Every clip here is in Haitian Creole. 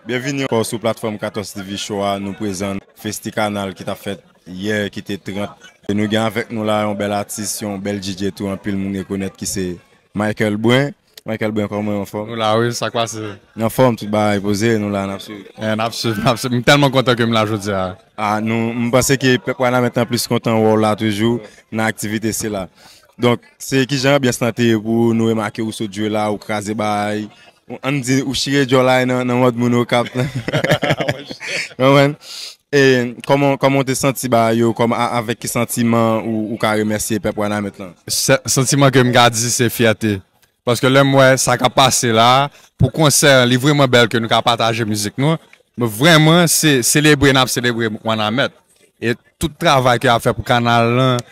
Byenvini ankò sou platfòm 14 TV show a nou prezan festi kanal ki tap fèt yè ki te 30 e nou gen avèk nou la yon bèl atis yon bèl DJ tou anpil moun rekonèt ki se Michael Brun Michael Brun kòman ou anfòm? Nou la wi sak pase? Nou anfòm tout bagay poze nou la nap swiv. Eh nap swiv nap swiv m tèlman kontan ke m la jodia. Ah nou m panse ke pèp wanament lan plis kontan wè w la toujou nan aktivite sila donk se kijan anbyans lan te ye pou ou nou remake ou sot jwe la ou kraze bagay Ann di ou chire djòl la nan mòd moun Okap. E kòman ou te santi ba yo, avèk ki santiman ou ka remèsye pèp Wanament lan? Santiman ke m ka di se fyète. Paske lè m wè sa k ap pase la a, pou konsè an li vreman bèl ke nou ka pataje mizik nou. Nou vreman selebre n ap selebre Wanament. E tout travay ke y ap fè pou kanal lan,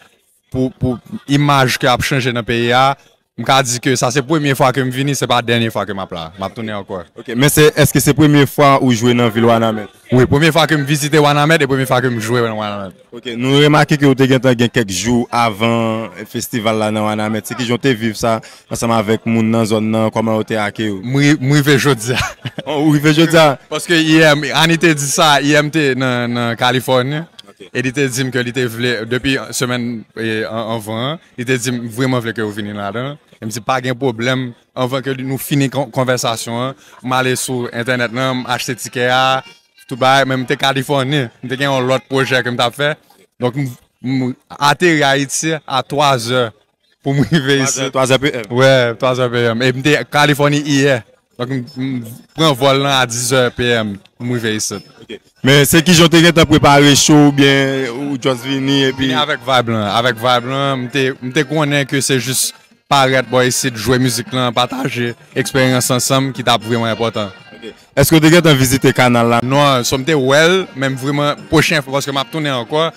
pou imaj ke ap chanje nan peyi a, m ka di ke sa se premye fwa ke m vini, se pa dènye fwa ke m ap la, m ap tounen ankò. Ok, men se, eske se premye fwa ou jwe nan vil Wanament? Wi, premye fwa ke m vizite Wanament e premye fwa ke m jwe nan Wanament. Ok, nou remake ke ou te gentan gen kèk jou avan festival la nan Wanament, se kijan ou te viv sa ansanm avèk moun nan zòn nan, kòman yo te akeyi ou? M rive jodi a. Ou rive jodi a? Paske yè, Annie te di sa, yè m te nan Californie. E li te di m ke li te vle, depi semèn anvan an, li te di m, m vreman vle ke ou vini ladan l. E m di, pa gen pwoblèm, anvan ke nou fini konvèsasyon an, m ale sou entènèt lan, m achte tikè a, tout bagay, men m te Kalifòni, m te gen yon lòt pwojè ke m t ap fè. Donk, m ateri Ayiti a 3 zè pou m rive isit. 3 zè PM? Wè, 3 zè PM. E m te Kalifòni iyè. Donk m pran vòl lan a 10 zè PM pou m rive isit. Ok. Men se kijan ou te gentan prepare show oubyen ou just vini epi. Vini avèk vibe lan. Avèk vibe lan. M te konnen ke se jis parèt bò isit, jwe mizik lan, pataje eksperyans ansanm ki t ap vreman enpòtan. Ok. Èske ou te gentan vizite kanal la? Non. So m te wè l, men m vreman, pwochen fwa paske m ap tounen ankò,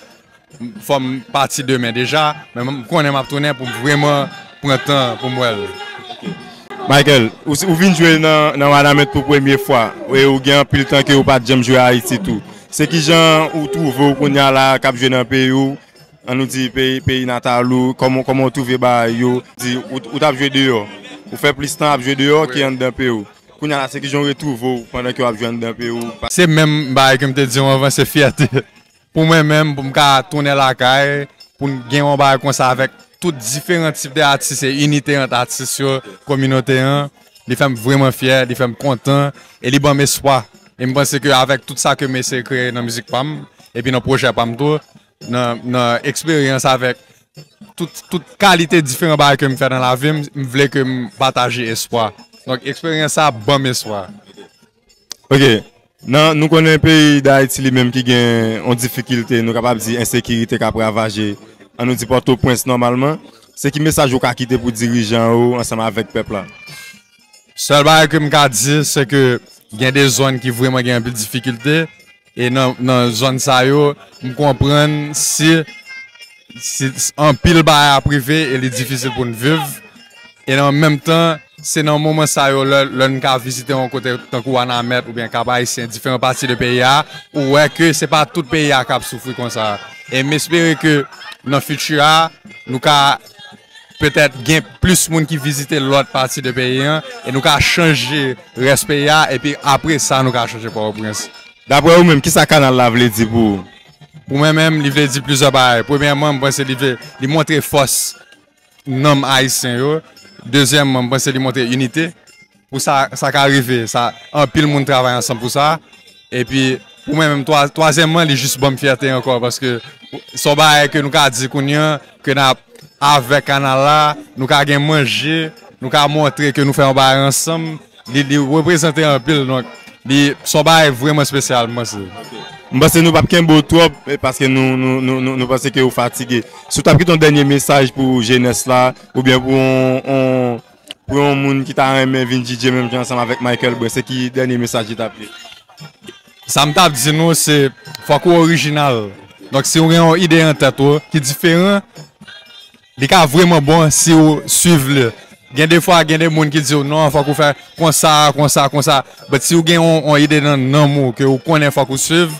Fòm pati demen deja men m konnen map tounen poum vreman pran tan poum wèl. Michael, ou vin jwe nan Wanament pou premye fwa e ou gen anpil tan ke ou pat janm jwe Ayiti tou. Se kijan ou twouve ou kounya la kap jwe nan peyi ou, an nou di peyi natal ou, kòman ou twouve bagay yo, di ou tap jwe deyò, ou fè plis tan ap jwe deyò ke anndan peyi ou. Kounya la se kijan ou retwouve ou pandan ke wap jwe anndan peyi ou? Se menm bagay ke m te di ou anvan, se fyète. Pou mwen menm pou m ka tounen lakay pou n gen yon bagay konsa avèk tout diferan tip de atis e inite ant atis yo, kominote an, li fè m vreman fyè, li fè m kontan e li ban m espwa. E m panse ke avèk tout sa ke m eseye kreye nan mizik pa m epi nan pwojè pa m tou, nan eksperyans avèk tout kalite diferan bagay ke m fè nan lavi m, m vle ke m pataje espwa. Donk eksperyans sa ban m espwa. Ok, nan nou konnen peyi dayiti li menm ki gen yon difikilte nou kapab di ensekirite kap ravaje an nou di pòtoprens nòmalman, se ki mesaj ou ka kite pou dirijan yo ansanm avèk pèp la? Sèl bagay ke m ka di se ke gen de zòn ki vreman gen anpil difikilte. E nan zòn sa yo, m konprann si anpil bagay ap rive e li difisil pou n viv. E an menm tan, se nan moman sa yo lè n ka vizite yon kote tankou Wanament oubyen Kap Ayisyen, diferan pati de peyi a, ou wè ke se pa tout peyi a k ap soufri konsa. E m espere ke nan fiti a, nou ka petèt gen plis moun ki vizite lòt pati de peyi an, e nou ka chanje rès peyi a, epi apre sa nou ka chanje Pòtoprens. Daprè ou menm, ki sa kanal la vle di pou ou? Pou mwen menm, li vle di plizyè bagay. Premyèman, m panse li vle, li montre fòs nanm Ayisyen yo. Dezyèmman, m panse li montre inite. Pou sa sa ka rive, sa anpil moun travay ansanm pou sa. E pi pou mwen menm twa, twazyèmman li jis banm fyète ankò paske son bagay ke nou ka di kounye an ke na avèk kanal la, nou ka gen manje, nou ka montre ke nou fè yon bagay ansanm, li li reprezante anpil donk li son bagay vreman spesyal m panse. M panse nou pap kenbe w twòp paske nou nou nou panse ke ou fatige. Si w tap gen yon dènye mesaj pou jenès la oubyen pou yon yon. Pou yon moun ki ta renmen vin DJ menm jan ansanm avèk Michael Brun se ki dènye mesaj li tap di? Sam tap di nou se fòk ou orijinal donk si ou gen yon ide nan tèt ou ki diferan li ka vrèman bon si ou swiv li gen de fwa gen de moun ki diw non fòk ou fè konsa konsa konsa but si ou gen yon ide nan nanm ou ke ou konnen fòk ou swiv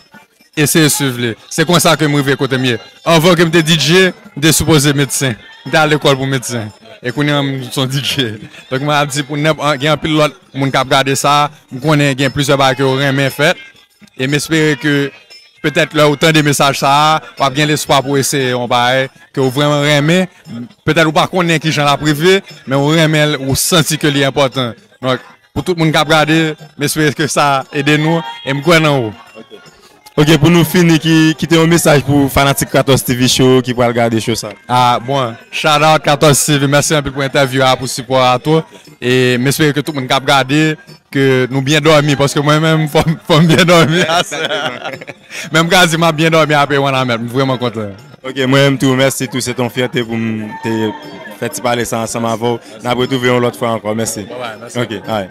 Eseye swiv li. Se konsa ke m rive kote m ye. Anvan ke m te DJ, m te sipoze medsen. M te al lekòl pou medsen. E kounye an m s on DJ. Donk mwen ap di pou nenp, gen anpil lòt moun k ap gade sa, m konnen gen plizyè bagay ke ou renmen fè. E m espere ke petèt lè ou tande mesaj sa a, w ap gen lespwa pou eseye yon bagay ke ou vrèman renmen. Petèt ou pa konnen kijan l ap rive, men ou renmen l, ou santi ke li enpòtan. Donk, Pou tout moun kap gade, m espere ke sa ede nou, e m kwè nan ou. Ok pou nou fini ki kite yon mesaj pou fanatik 14 TV show yo ki pral gade show sa. Ah bon, shout out 14 TV, mèsi anpil pou entèvyou a, pou sipò a tou, e m espere ke tout moun kap gade ke nou byen dòmi paske mwen menm fòm byen dòmi aswè a. Menm kazi map byen domi apre wanament m vreman kontan. Ok mwen menm tou mèsi tou se ton fyète pou m te fè ti pale sa ansanm avèw nap retrouve yon lòt fwa ankò mèsi ok alright.